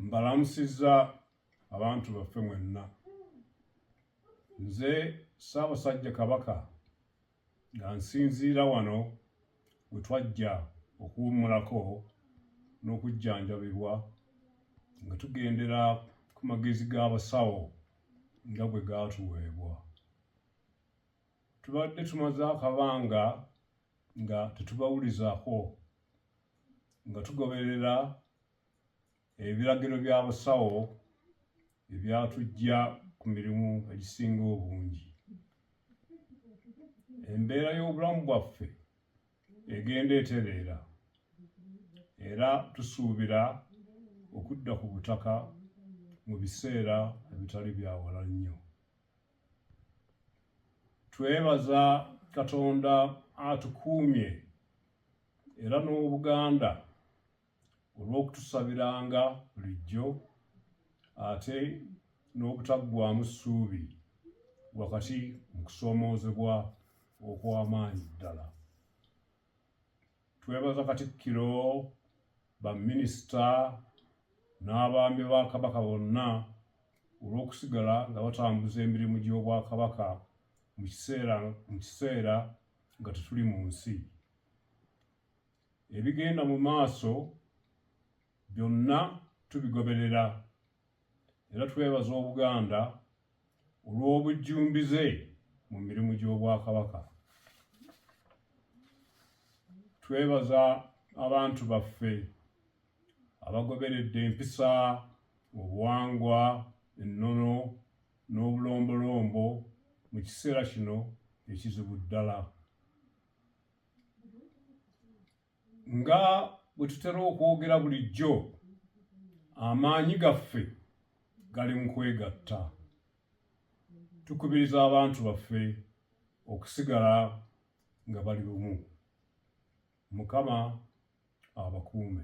mbalamusiza abantu baffe mwenna nze ssaabasajja kabaka nga nsinziira wano we twajja okuwummulako n'okujjanjabibwa nga tugendera ku magezi g'abasawo nga bwe gaatuweebwa tubadde tumaze akabanga nga tetubawulizaako nga tugoberera ebiragiro bya busawo ebyatujja ku mirimu egisinga obungi embeera y'obulamu bwaffe egenda etereera era tusuubira okudda ku butaka mu biseera ebitali byawala nnyo twebaza katonda atukuumye era n'obuganda olw'okutusabiranga bulijjo ate n'obutaggwamu ssuubi wakati mu kusoomoozebwa okw'amaanyi ddala Twebaza Katikkiro, baminisita n'abaami ba Kabaka bonna olw'okusigala nga batambuza emirimu gy'Obwakabaka mu kiseera mu kiseera nga tetuli mu nsi. Ebigenda mu maaso byonna tubigoberera era twebaza Obuganda olw'obujjumbize mu mirimu gy'Obwakabaka. Twebaza abantu baffe abagoberedde empisa, obuwangwa, ennono n'obulombolombo mu kiseera kino ekizibu ddala. nga bwe tutera okwogera bulijjo amaanyi gaffe gali mu kwegatta tukubiriza abantu baffe okusigala nga bali bumu mukama abakuume